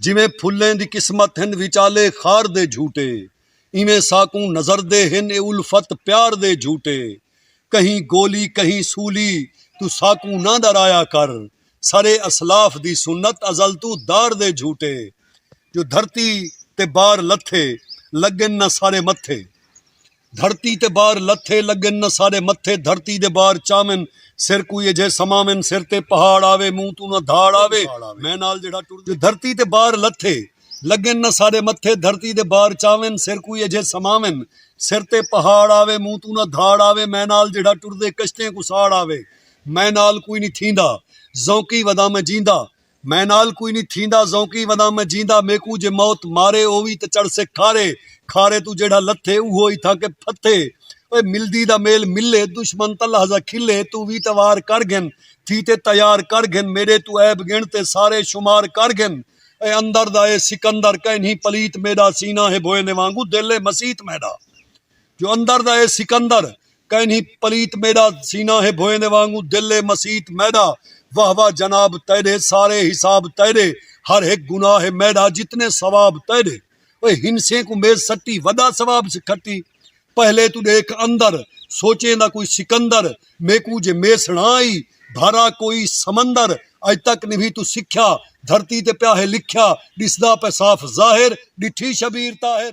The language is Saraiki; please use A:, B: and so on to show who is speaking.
A: جیویں پھلیں دی قسمت ہن وچالے خار دے جھوٹے ایویں ساکوں نظر دے ہن اے الفت پیار دے جھوٹے کہیں گولی کہیں سولی توں ساکوں نہ ݙرایا کر سرے اسلاف دی سنت ازل توں دار دے جھوٹے جو دھرتی تے بار لتھے لڳن نہ سارے متھے دھرتی تے بار لتھے لگن نہ سارے متھے دھرتی دے بار چاون سر کوئی اجھے سماون سر تے پہاڑ آوے منہ توں نہ دھاڑ آوے میں نال جیڑھا ٹر دے دھرتی تے بار لتھے لگن نہ سارے متھے دھرتی دے بار چاون سر کوئی اجھے سماون سر تے پہاڑ آوے منہ توں نہ دھاڑ آوے میں نال جیڑھا ٹر دے کشتیں کوں ساڑ آوے میں نال کوئی نی تھیندا ذونقی ودا میں جیندا۔ میں نال کوئی نی تھیندا ذونقی وداں میں جیندا میکوں جے موت مارے او وی تے چڑھسے کھارے کھارے توں جیڑھا لتھے اوہو ای تھاں کے پھتھے اوئے ملدی دا میل ملے دشمن تاں لحظہ کھلے توں وی تے وار کر گھن تھی تے تیار کر گھن میڈے توں عیب گن تے سارے شمار کر گھن اے اندر دا اے سکندر کینہیں پلیت میڈا سینہ ہے بھوئے نے وانگوں دل ہے مسیت میڈا جو اندر دا اے سکندر کائنھی پلیت میݙا سینہ ہے بھوئیں دے وانگوں دل ہے مسیت میݙا واہ واہ جناب تیݙے سارے حساب تیݙے ہر ہک گناہ ہے میݙا جتنے ثواب تیݙے اوئے ہنسیں کوں میز سٹی وݙا ثواب سے کھٹی پہلے توں ݙیکھ اندر سوچیں دا کوئی سکندر میکوں جے میسݨا ای بھرا کوئی سمندر اڄ تک نبھی توں سکھیا دھرتی تے پیا ہے لکھیا ݙسدا پئے صاف ظاہر ݙٹھی شبیر طاہر۔